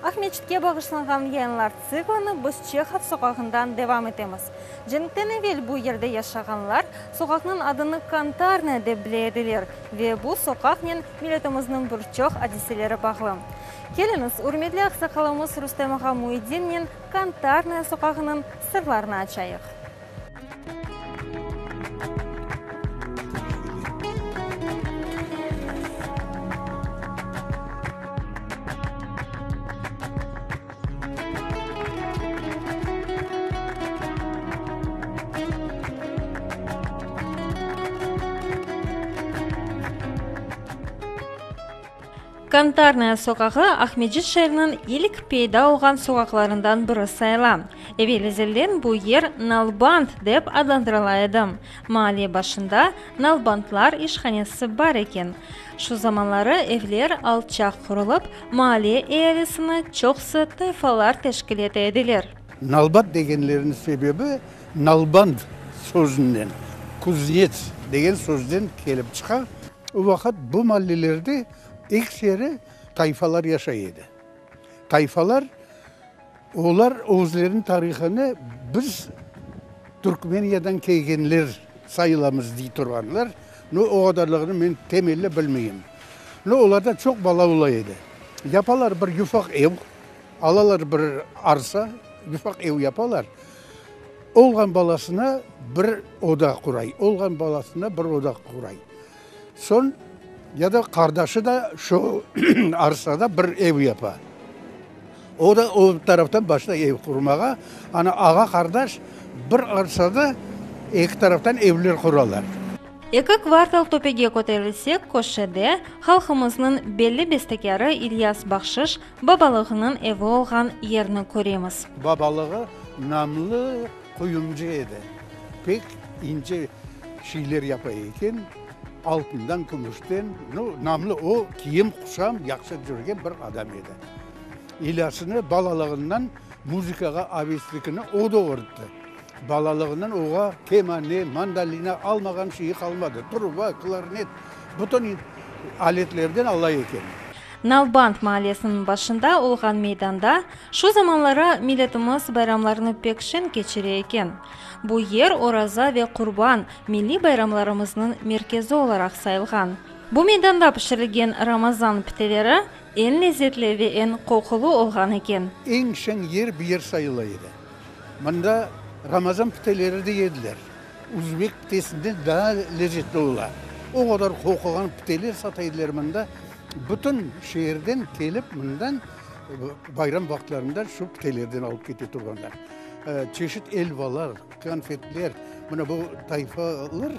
Aqmescitke bağışlanğan yayınlar tsiklinı biz Çehov soqağından devam etemiz. Cenkten evel bu yerde yaşağanlar soqaqnıñ adını Kantarnaya dep bile ediler ve bu soqaqnen Milletimizniñ bir çoq adiseleri bağlı. Keliñiz, ürmetli aqsaqalımız Rustem ağa Muidinniñ Kantarnaya soqağınıñ sırlarını açayıq. Kantarnaya soqağı Aqmescit şeeriniñ ilk peyda olğan soqaqlarından biri sayıla. Evel-ezelden bu yer nalbant dep adlandırıla edi. Mahalle başında nalbantlar işhanesi bar eken. Şu zamanları evler alçaq qurulup, Mahalle ealisini çoqsı tayfalar teşkil ete ediler. Nalbat degenleriniñ sebebi nalband sözünden, kuznets degen sözden kelip çıqa. O vaqıt bu mallelerde ekseri tayfalar yaşay edi. Tayfalar. Olar özleriniñ tarihını biz Türkmeniyadan kelgenler sayılamız dey turğanlar, no o qadarlığını men temelle bilmeyim. No olarda çoq bala ola edi. Yapalar bir yufaq ev, alalar bir arsa, yufaq ev yapalar, olğan balasına bir oda quray, olğan balasına bir oda quray. Soñ ya da qardaşı da şu arsada bir ev yapa. O da o taraftan başlay ev qurmağa. Ana, ağa-qardaş bir arsada eki taraftan evler quralar. Eki kvartal töpege köterilsek, köşede, halqımıznıñ belli bestekârı İlyas Bahşış babalığınıñ evi olğan yerni köremiz. Babalığı namlı. Quyumcı edi. Pek ince şeyler yapa eken, altından, kümüşten. Nu, namlı o, kiyim-quşam yaqşı cürgen bir adam edi. İlyasnı balalığından muzıkağa aveslikini o doğurttı. Balalığından oğa kemane, mandolina almağan şeyi qalmadı, truba, klarnet, bütün aletlerden ala eken. Nalbant maalesiniñ başında olğan meydanda, Şu zamanları milletimiz bayramlarını pek şeñ keçire eken. Bu yer Oraza ve Qurban, milliy bayramlarımıznıñ merkezi olaraq sayılğan. Bu meydanda pişirilgen Ramazan piteleri eñ lezzetli ve eñ qoqulı olğan eken. Eñ şeñ yer bu yer sayıla edi. Mında Ramazan piteleri de yediler. Uzbek pitesinden daa lezzetli ola. O qadar qoquğan piteler sata ediler mında. Bütün şeerden kelip mından Bayram vaqıtlarında şu pitelerden alıp kete turğanlar. Çeşit elvalar, konfetler, mına bu tayfalar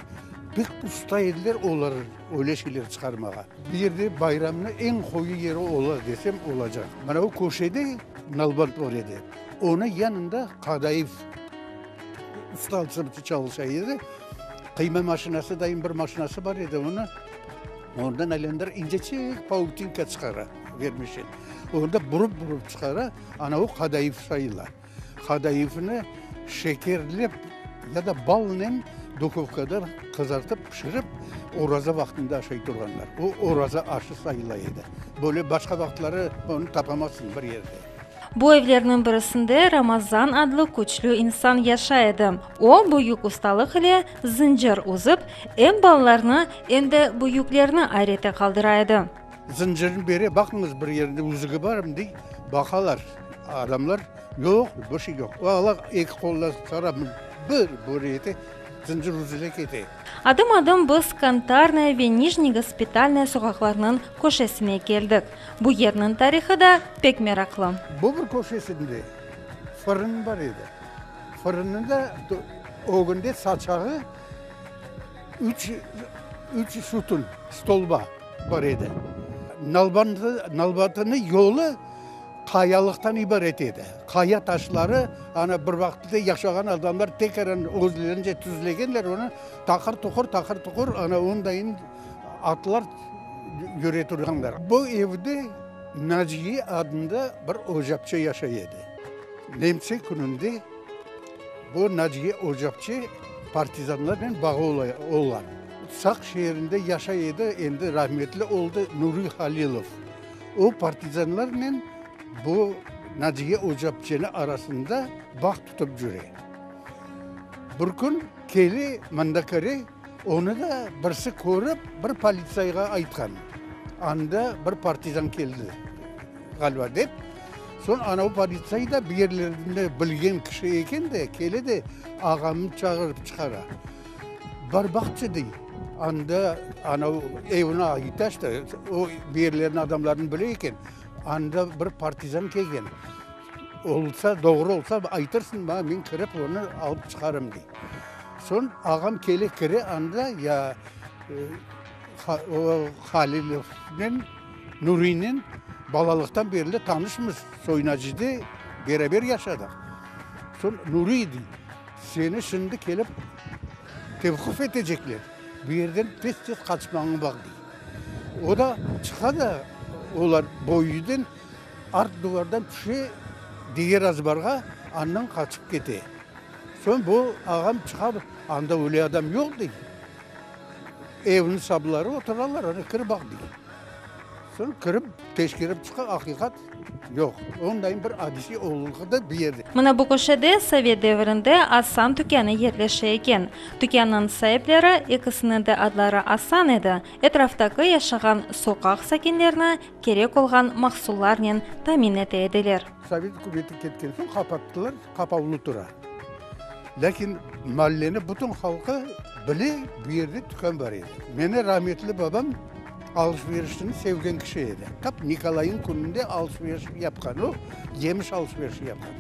pek usta ediler, olar öyle şeyler çıqarmağa. Bu yerde bayramnıñ eñ qoyu yeri ola desem olacaq. Mına o köşede nalbant bar edi, onıñ yanında Qadayev usta alsabıtı çalışa edi. Qıyma maşinası, daim bir maşinası bar edi onıñ, ondan aylandıra, incecik pautinka çıqara. Vermese, onda burıp-burıp çıqara, ana o qadayıf sayıla. Qadayıfnı şekerlep ya da balnen duhovkada qızartıp pişirip, oraza vaqtında aşay turğanlar. O oraza aşı sayıla edi. Böyle başqa vaqıtları onı tapamazsıñ bir yerde. Bu evlerniñ birisinde Ramazan adlı küçlü insan yaşay edi. O, büyük ustalıq ile zıncır uzıp, em balalarnı, em de büyüklerni ayrete qaldıra edi. Zıncırnı bere, baqıñız, bir yerinde üzügi barmı, dey. Baqalar adamlar, yoq, bir şey yoq. Ala, eki qolla sara, bir böre ete, zıncır üzüle kete. Adım-adım biz Kantarnaya ve Nijniy Gospitalnaya soqaqlarnıñ köşesine keldik. Bu yerniñ tarihı da pek meraqlı. Bobr köşesinde fırın bar edi. Fırınnıñ da ögünde saçağı üç, üç sütün, stolba. Bar edi. Nalbantınıñ yolu qayalıqtan ibaret edi. Qaya taşları, ana bir vaqıtta yaşağan adamlar tekeren özlerince tüzlegenler onı, taqır tuqır, taqır tuqır, ana ondayın atlar yüre turğanlar. Bu evde Naciye adında bir ocapçı yaşay edi. Nemse kününde bu Naciye ocapçı partizanlarnen bağı olğan. Saq şeerinde yaşay edi, endi rahmetli oldı, Nuriy Halilov. O, partizanlarnen bu Naciye Ocapçeni arasında bağ tutıp cüre. Bir kün keli mında kire, onı da birsi körip, bir politsayğa aytqan, anda bir partizan keldi, ğaliba, dep. Soñ anau politsay da bir yerlerni bilgen kişi eken de, kele de ağamnı çağırıp çıqara. Bar baqçı dey. Anda anav evine ait da işte, o bir yerlerni adamlarını bile eken. Anda bir partizan kelgen. Olsa, doğru olsa aytırsıñ maña, men kirip onı alıp çıqarım dey. Soñ ağam kele kire, anda ya o Halilovnen, Nurinen balalıqtan berli tanışmız, Soyunacıda beraber yaşadıq. Soñ Nuriy dey. Seni şimdi kelip tevqif etecekler, bu yerden tez-tez qaçmañı baq, dey. O da çıqa da, olar bu üyden art duvardan tüşe, diger azbarğa, andan qaçıp kete. Soñ bu ağam çıqa, anda öyle adam yoq, dey. Evniñ sabları oturalar, ana kir baq, dey. Soñ kirip, teşkerip çıqa, aqiqat yoq. Onday bir adise olğanı bir yerde. Mına bu köşede sovet devirinde Asan tükânı yerleşe eken. Tükânnıñ saipleri, ekisiniñ de adları Asan edi, etraftaki yaşağan soqaq sakinlerini kerek olğan mahsullarnen tamin ete ediler. Sovet ükümeti ketken soñ qapattılar, qapavlı tura. Lâkin malleni bütün halqı bile, bu yerde tükân bar edi. Meni rahmetli babam, Alış-verişni sevgen kişi edi. Tap Nikolayniñ kününde alış-veriş yapqan o, yemiş alış-verişi yapqan.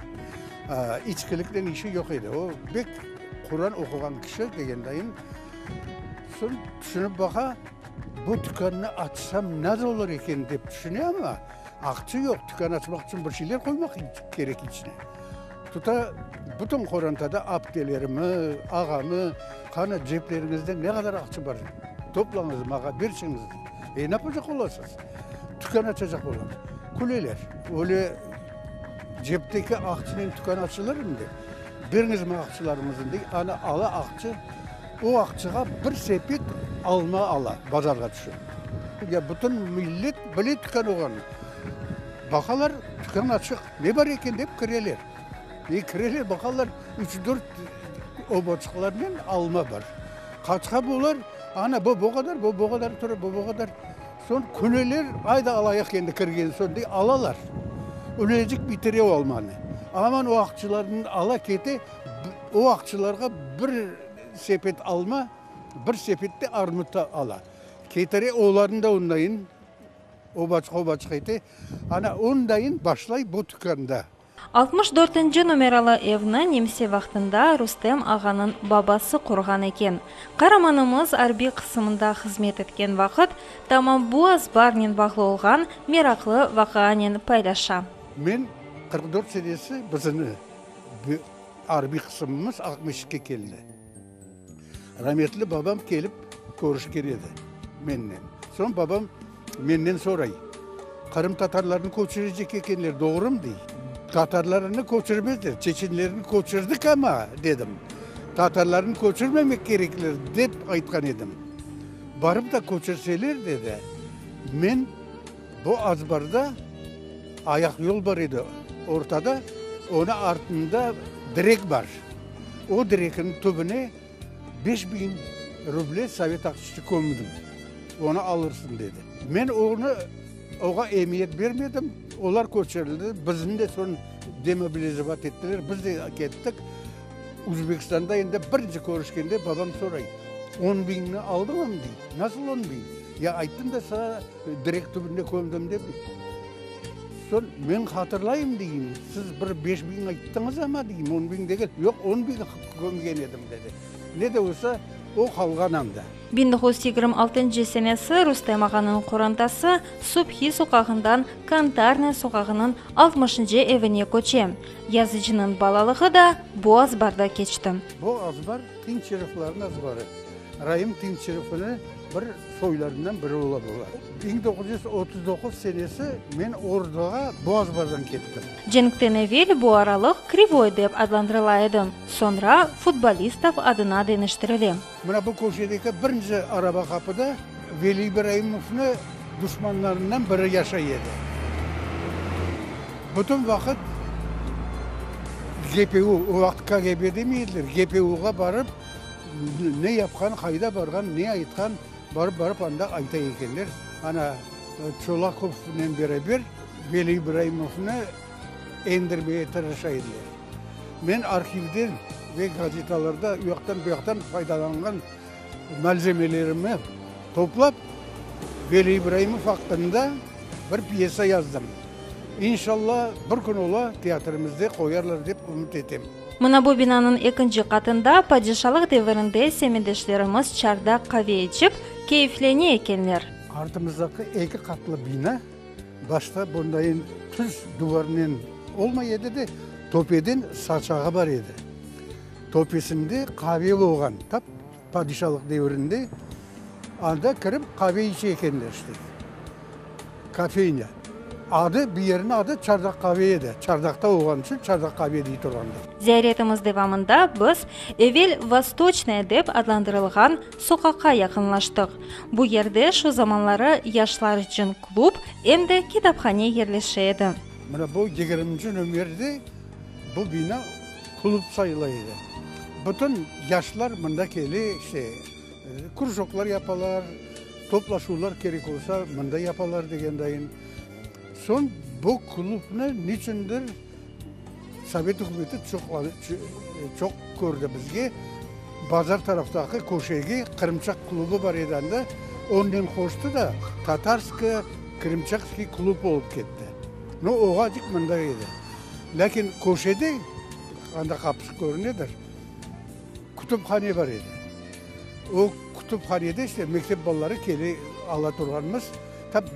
İçkiliknen işi yoq edi. O, bek Quran oquğan kişi degendayım. Soñ tüşünip baqa, bu tükannı açsam nasıl olur eken dep tüşüne, amma aqçı yoq, tükan açmaq içün bir şeyler qoymaq kerek içine. Tuta bütün qorantada aptelerimi, ağamı, qanı cepleriñizde ne qadar aqçı bar, toplañız, maña berçeñiz, e, napacaq olasız? Tükân açacaq olam. Küleler. Öyle cepteki aqçınen tükân açılırmı dep, beriñiz maña aqçılarıñıznı dey, ana ala aqçı, o aqçığa bir sepet alma ala, bazarğa tüşe. Ya bütün millet bile tükân olğanını. Baqalar, tükân açıq. Ne bar eken dep kireler. E, kireler, baqarlar, üç-dört oboçıqlarnen alma bar. Qaçqa bular, ana, bu bu qadar, bu bu qadar tura, bu bu qadar. Soñ küleler, ayda alayıq endi kirgen soñ, dep alalar. Ülecik bitire o almanı. Aman o aqçılardan ala kete, o aqçılarğa bir sepet alma, bir sepet de armut ala. Ketire, olarnı da ondayın. Obaçıq, obaçıq ete, ana ondain başlay bu tükanda. Altmış dörtünci numeralı evni Nemse vaqtında Rustem ağanıñ babası qurğan eken. Qaramanımız arbiy qısımında hızmet etken vaqıt, tamam bu azbarnen bağlı olğan meraqlı vaqıanen paylaşa. Men qırq dört senesi, biziñ arbiy qısımımız altmış ikki keldi. Rametli babam kelip körüşken edi mennen. Soñ babam mennen soray, qırımtatarlarnı köçürecek ekenler, doğrumı? dey. Tatarlarnı köçürmezler, çeçenlerni köçürdik ama, dedim, tatarlarnı köçürmemek kerekler, dep aytqan edim. Barıp da köçürseler, dedi, men. Bu azbarda ayaqyol bar edi, ortada, onı artında direk bar. O direkniñ tübüne beş biñ ruble sovet aqçısı kömdim, onı alırsıñ, dedi. Men onı, oğa emiyet bermedim, olar köçürildi, bizni de soñ demobilizavat ettiler, biz de kettik. Uzbekistanda endi birinci körüşkende babam soray, On biñni aldıñam, dey, nasıl on biñ? Ya ayttım da saña. Direk tübüne kömdim dep, soñ men hatırlayım, deyim, siz bir beş biñ ayttıñız ama, deyim, on biñ degil. Yoq, on biñ kömgen edim, dedi. Ne de olsa, o qalğan anda. Biñ toğuz yüz yigirmi altıncı senesi Rustem ağanıñ qorantası Subhi soqağından Kantarnıy soqağınıñ altmışıncı evine köçe. Yazıcınıñ balalığı da bu azbarda keçti. Bu azbar Tınç Şeriflerniñ azbarı. Raim Tınç Şerifini. Bir soylarından biri ola bunlar. Biñ doquz yüz otuz doquz senesi men orduğa Boğazbardan kettim. Cenkten evel bu aralıq Krivoy dep adlandırıla edi, soñra Futbolistov adına deñiştirile. Mına bu köşedeki birinci araba qapıda Veli İbraimovnı duşmanlarından biri yaşay edi. Bütün vaqıt GPU, o vaqıt KGB demey ediler, GPUğa barıp, Ne yapqan, qayda barğan, ne aytqan, barıp-barıp anda ayta ekenler. Ana, Çolakovnen beraber Veli İbraimovnı endirmege tırışa ediler. Men arhivden ve gazetalarda u yaqtan, bu yaqtan faydalanğan malzemelerimi toplap, Veli İbraimov aqqında bir pyesa yazdım. İnşalla, bir kün ola teatrımızda qoyarlar dep ümüt etem. Mına bu binanıñ ekinci qatında padişalıq devirinde semedeşlerimiz çardaq qave içip, keyiflene ekenler. Artımızdaki eki qatlı bina başta bundayin tuz duvarnen olmay edi de, töpeden saçağı bar edi. Töpesinde qave olğan. Padişalıq devrinde anda kirip qave içe ekenler işte, kofeyne. Adı, bir yerniñ adı Çardaq qave edi, Çardaqta olğanı içün Çardaq qave dey turğanlar. Ziyaretimiz devamında biz evel Vostoçnaya dep adlandırılğan soqaqqa yaqınlaştıq. Bu yerde şu zamanları yaşlar içün klub, em de kitaphane yerleşe edi. Mına bu yigirminci nömerdi bu bina. Klub sayıla edi. Bütün yaşlar mında kele, işte, krujoklar yapalar, toplaşuvlar kerek olsa, mında yapalar degendayın. Soñ bu klubnı niçündir sovet ükümeti çoq, çoq kördi. Bizge bazar taraftaki köşegi Qırımçaq klubu bar edi anda, onnen qoştı da Tatarskı, Krımçakskıy klub olıp ketti. No, oğacık mında edi. Lâkin köşede, anda qapısı körünedir, kütüphane bar edi. O kütüphanede işte mektep balaları kele ala turğanımız, tap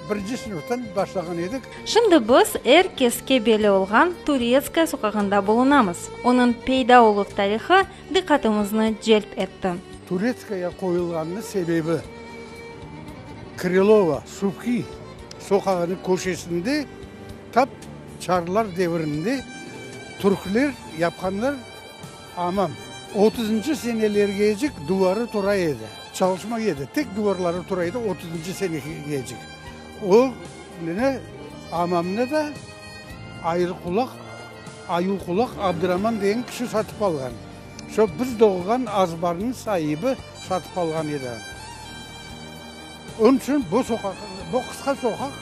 birinci sınıftan başlağan edik. Şimdi biz er keske belli olğan Turetskaya soqağında bulunamız. Onıñ peyda oluv tarihı diqqatımıznı celp etti. Turetskaya qoyulğanınıñ sebebi, Krılova, Suvkiy soqağınıñ köşesinde, Tap çarlar devirinde türkler yapqanlar amam. Otuzıncı senelergecik duvarı tura edi. Çalışma edi, tek duvarları tura edi otuzıncı senegecik. O mine amamnı da Ayırqulaq, Ayuqulaq Abdıraman degen kişi satıp alğan. Şo biz doğğan azbarnıñ saibi satıp alğan edi. Onıñ içün bu soqaq, bu qısqa soqaq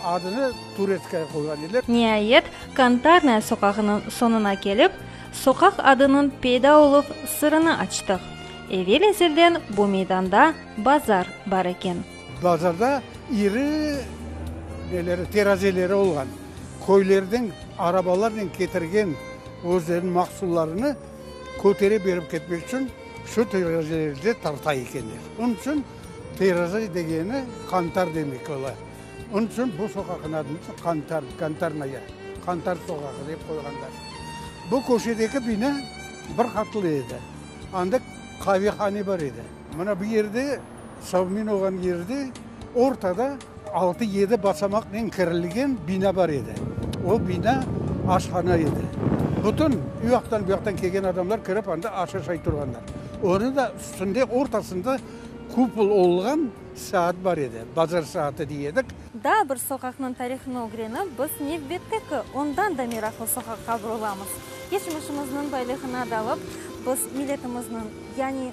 adını Turetskaya qoyğan ediler. Niayet, Kantarnaya soqağınıñ soñuna kelip, soqaq adınıñ peyda oluv sırını açtıq. Evel-ezelden bu meydanda bazar bar eken. Bazarda iri neleri, terazileri olğan. Köylerden arabalarnen ketirgen özleriniñ mahsullarını kötere berip ketmek içün. Şu terezede tarta ekenler. Onıñ içün tereze degeni qantar demek ola. Onıñ içün bu soqaqnıñ adını da Qantar, Kantarnaya, Qantar soqağı dep qoyğanlar. Bu köşedeki bina bir qatlı edi. Anda qavehane bar edi. Mına bu yerde. Savmin olğan yerde ortada altı-yedi basamaqnen kirilgen bina bar edi. O bina aşhana edi. Bütün ü yaqtan-bu yaqtan kelgen adamlar kirip anda aş aşay turğanlar. Onı da üstünde ortasında kupol olğan saat bar edi, bazar saatı dey edik. Daa bir soqaqnıñ tarihını ögrenip, biz nevbette ki, ondan da meraqlı soqaqqa burulamız. Keçmişimizniñ baylığına dalıp, biz milletimizniñ, yani,